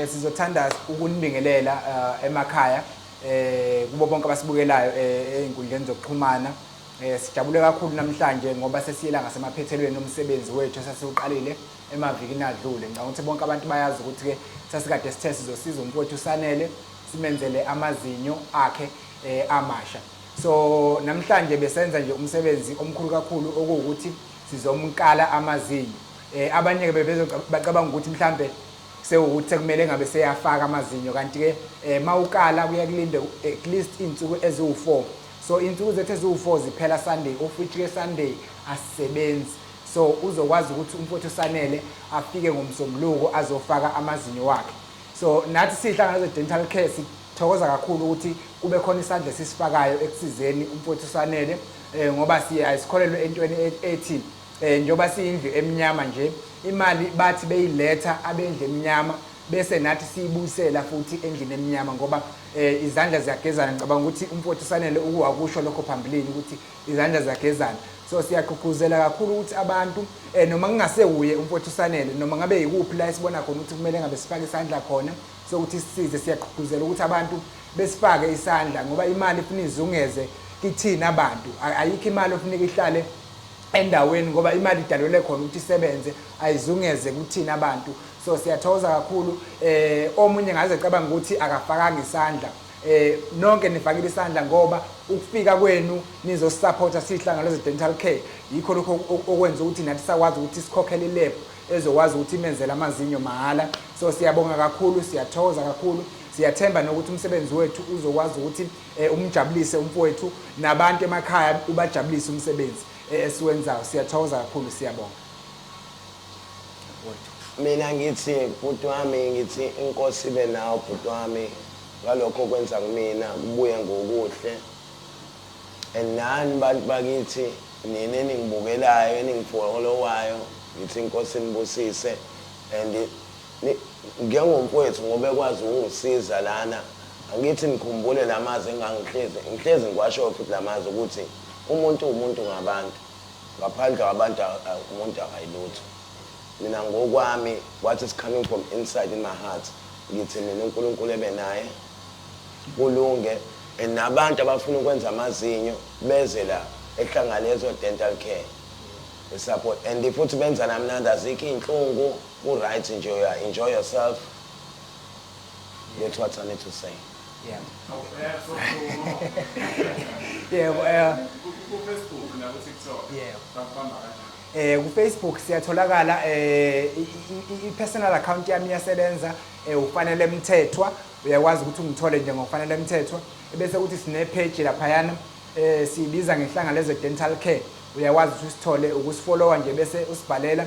Eh, sizothanda ukunibingelela eh, emakhaya eh, kubo bonke abasibukelayo ezinkundleni zokuxhumana sijabule kakhulu namhlanje ngoba sesiyela ngasemaphethelweni omsebenzi wethu esasiwuqalile emavikini adlule ngicabanga ukuthi bonke abantu bayazi ukuthi-ke sasikade sithe sizosiza umfowethu usanele simenzele amazinyo akhe um amasha so namhlanje besenza nje umsebenzi omkhulu kakhulu okuwukuthi sizomkala amazinyo um abanye-ke bebezobacabanga ukuthi mhlawumbe Sewukuthi sekumele ngabe seyafaka amazinyo kanti ke eh, mawukala kuye kulinde at least insuku eziwu4 so insuku zethu eziwu4 ziphela Sunday of which ke Sunday asisebenzi so uzokwazi ukuthi umfowethu Sanele afike ngomsombuluko azofaka amazinyo wakhe so nathi sihlangana ze dental care sithokoza kakhulu ukuthi kube khona isandla sisifakayo ekusizeni umfowethu Sanele eh, ngoba siya isikholelwe entweni e-, ethi Eh njoba siyindlu emnyama nje imali bathi beyiletha abendlu emnyama bese nathi siyibuyisela futhi endlini emnyama ngoba eh izandla ziyagezana ngicabanga ukuthi umfowethu sanele ukuwakusho lokho phambilini ukuthi izandla ziyagezana so siyagqugquzela kakhulu ukuthi abantu eh noma kungasewuye umfowethu sanele noma ngabe yikuphi la esibona khona ukuthi kumele ngabe sifake isandla khona sokuthi sisize siyagqugquzela ukuthi abantu besifake isandla ngoba imali ifuna izungeze kithina abantu ayikho imali ofuneka ihlale endaweni ngoba imali idalelwe khona ukuthi isebenze ayizungeze kuthina abantu so siyathokoza kakhulu eh omunye ngaze cabanga ukuthi akafakanga isandla eh nonke nifakile isandla ngoba ukufika kwenu nizosupporta sihlangano zedental care yikho lokho okwenza ukuthi nathi sakwazi ukuthi sikhokhele ilab ezokwazi ukuthi imenzele amazinyo mahhala so siyabonga kakhulu siyathokoza kakhulu siyathemba nokuthi umsebenzi wethu uzokwazi ukuthi Eh, umjabulise umfowethu nabantu emakhaya ubajabulise umsebenzi eh, esiwenzayo siyathokoza kakhulu siyabonga mina ngithi bhuti wami ngithi inkosi ibe nawo bhuti wami ngalokho okwenza kumina kubuye ngokuhle and nani bantu bakithi nina eningibukelayo eningifolowayo ngithi inkosi nibusise and Ni njengo mfwethu ngoba ekwazi ukungisiza lana angithi nikhumbule lamazwi engangihlezi ngihlezi ngiwashoyo futhi lamazwi ukuthi umuntu uwumuntu ngabantu ngaphandle kwabantu a a umuntu akayilutho mina ngokwami what is coming from inside in my heart ngithi mina unkulunkulu ebe naye kulunge and nabantu abafuna ukwenza amazinyo beze la ehlangane ezo dental care support and futhi benza namnandi azikho iynhlungu. U right nje uya enjoy yourself. That's what I need to say. Yeah. Yebo, eh. Ku Facebook na ku TikTok. Yebo. Bakubamba kanjani? eh ku Facebook siyatholakala eh i personal account yami iyasebenza eh ufanele mthethwa uyakwazi ukuthi ungithole nje ngokufanele mthethwa ebese kuthi sine page lapha yana eh sibiza ngehlanga leze dental care uyakwazi ukuthi usithole ukusifollowa nje bese usibhalela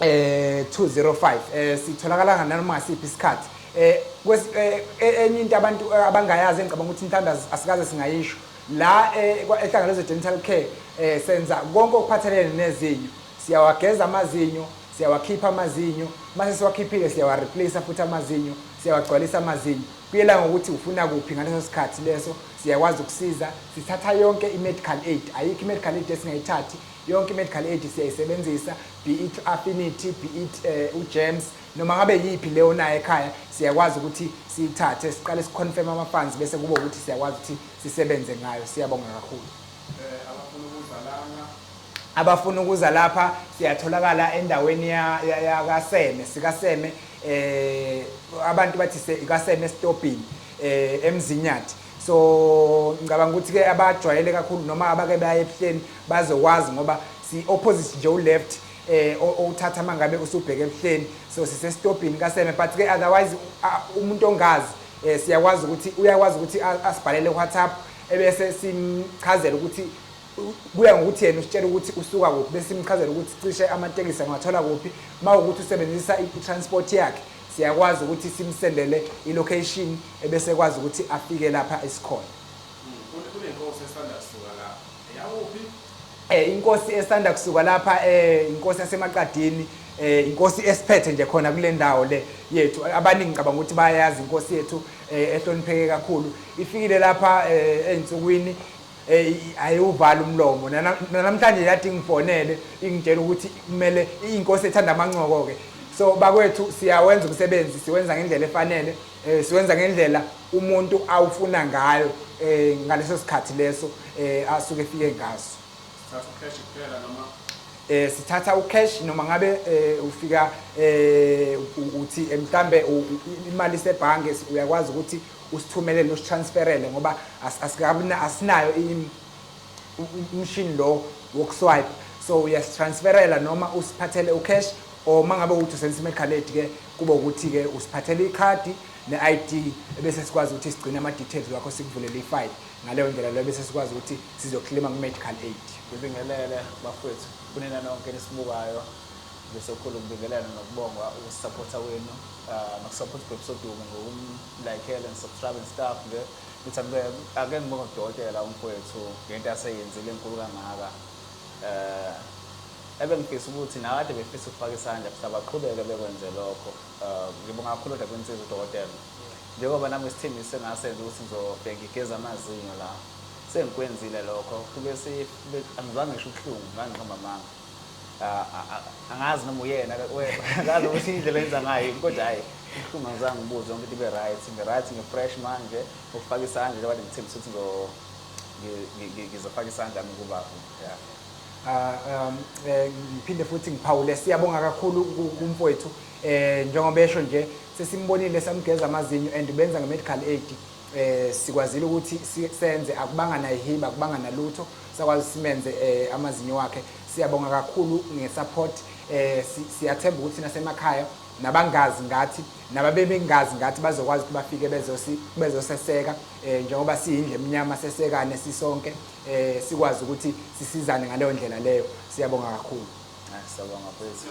eh 205 eh sitholakala nganoma siphi isikhathi eh, eh, eh enye into abantu eh, abangayazi engicabanga ukuthi mhlawumbe asikaze singayisho la eh, ehlangano zedental care eh senza konke okuphathelene nezinyo siyawageza amazinyo siyawakhipha amazinyo mase siwakhiphile siyawareplace futhi amazinyo siyawagcwalisa amazinyo kuyela ngokuthi ufuna kuphi ngaleso sikhathi leso siyakwazi ukusiza sithatha yonke i-medical aid ayikho i-medical aid esingayithathi Yonke i-medical aid siyayisebenzisa, be it u-Affinity, be it um uGEMS, noma ngabe yiphi le onayo ekhaya, siyakwazi ukuthi siyithathe, siqale si-confirm ama-funds bese kuba ukuthi siyakwazi ukuthi sisebenze ngayo. Siyabonga kakhulu. Abafuna ukuza lapha siyatholakala endaweni yakaSeme, sikaSeme, um abantu bathi kaSeme esitobhini, um eMzinyathi. so ngicabanga ukuthi ke abajwayele kakhulu noma abake baye ebuhleni bazokwazi ngoba si opposite nje u left eh owuthatha mangabe usubheke ebuhleni so sise stopping kaseme but ke otherwise umuntu ongazi eh siyakwazi ukuthi uyakwazi ukuthi asibhalele WhatsApp ebese simchazela ukuthi kuya ngokuthi yena usitshela ukuthi usuka kuphi bese simchazela ukuthi cishe amatekisi angathola kuphi uma ukuthi usebenzisa i-transport yakhe Siyakwazi ukuthi simsendele ilocation ebese ekwazi ukuthi afike lapha esikhona. Kunenkosi esanda kusuka lapha. Eyakuphi? Eh inkosi esanda kusuka lapha eh inkosi yasemaqadini eh inkosi esiphethe nje khona kule ndawo le yethu abaningi ngicabanga ukuthi bayayazi inkosi yethu eh ehlonipheke kakhulu ifikile lapha eh ensukwini Ey ayiwuvala umlomo Nana- nanamhlanje yathi ngifonele ingitshela ukuthi kumele inkosi ethanda amancoko ke so bakwethu siyawenza umsebenzi siwenza ngendlela efanele eh, siwenza ngendlela umuntu awufuna ngayo eh, ngaleso sikhathi leso eh, asuke efike ngaso Thatha ucash kuphela noma eh sithatha ucash noma ngabe eh, ufika eh u- uthi eh, mhlambe u- u- imali sebhange uyakwazi ukuthi usithumelele usi transferele ngoba asinayo umshini lo woku swipe so uyasi transferela noma usiphathele u cash or mangabe ukuthi usebenzisa imedical aid ke kube ukuthi ke usiphathele ikhadi ne ID ebese sikwazi ukuthi sigcine ama details wakho sikuvulele i file ngaleyo ndlela leyo bese sikwazi ukuthi sizoklima ku medical aid ngibingelele bafethu kunina nonke nisibukayo ngisokhulu ngibingelele nokubonga ukusupporta wenu uh, nokusupporta ibhebhisodumo ngokum like and subscribe and stuff nje ngithi angibeke ake ngibonge udokotela umfowethu ngento aseyenzile enkulu kangaka eh ebengifisa ukuthi nakade befisa ukufaka isandla futhi abaqhubeke bekwenze lokho eh, ngibonga kakhulu kodwa kwensiza udokotela njengoba nami isithembiso sengasenza ukuthi ngizobhenga igeza amazinyo la sengikwenzile lokho kube angizange ngisho ubuhlungu ngangiqamba amanga Ah, ah, ah, angazi noma uyena ngazi ukuthi indlela enza ngayo yini, kodwa hhayi kubuhlungu angizange ngibuze yonke into ibe right ngi-right ngi-fresh manje ukufaka isandla njengoba ngithembisa ukuthi ngizo- ngi- ngi- ngi- ngizofaka isandla mi kubaba yeah. Ah, um, eh, ngiphinde futhi ngiphawule siyabonga kakhulu ku- kumfowethu eh njengoba esho nje sesimbonile samgeza amazinyo and benza nge-medical aid eh sikwazile ukuthi senze akubanga nayihiba akubanga nalutho sakwazi simenze eh, amazinyo wakhe siyabonga kakhulu ngesupport eh siyathemba ukuthi nasemakhaya nabangazi ngathi nababebengazi ngathi bazokwazi ukuthi bafike bezosi bezoseseka eh njengoba siyindle emnyama sesekane sisonke eh sikwazi ukuthi sisizane ngaleyo ndlela leyo siyabonga kakhulu ah, siyabonga phezulu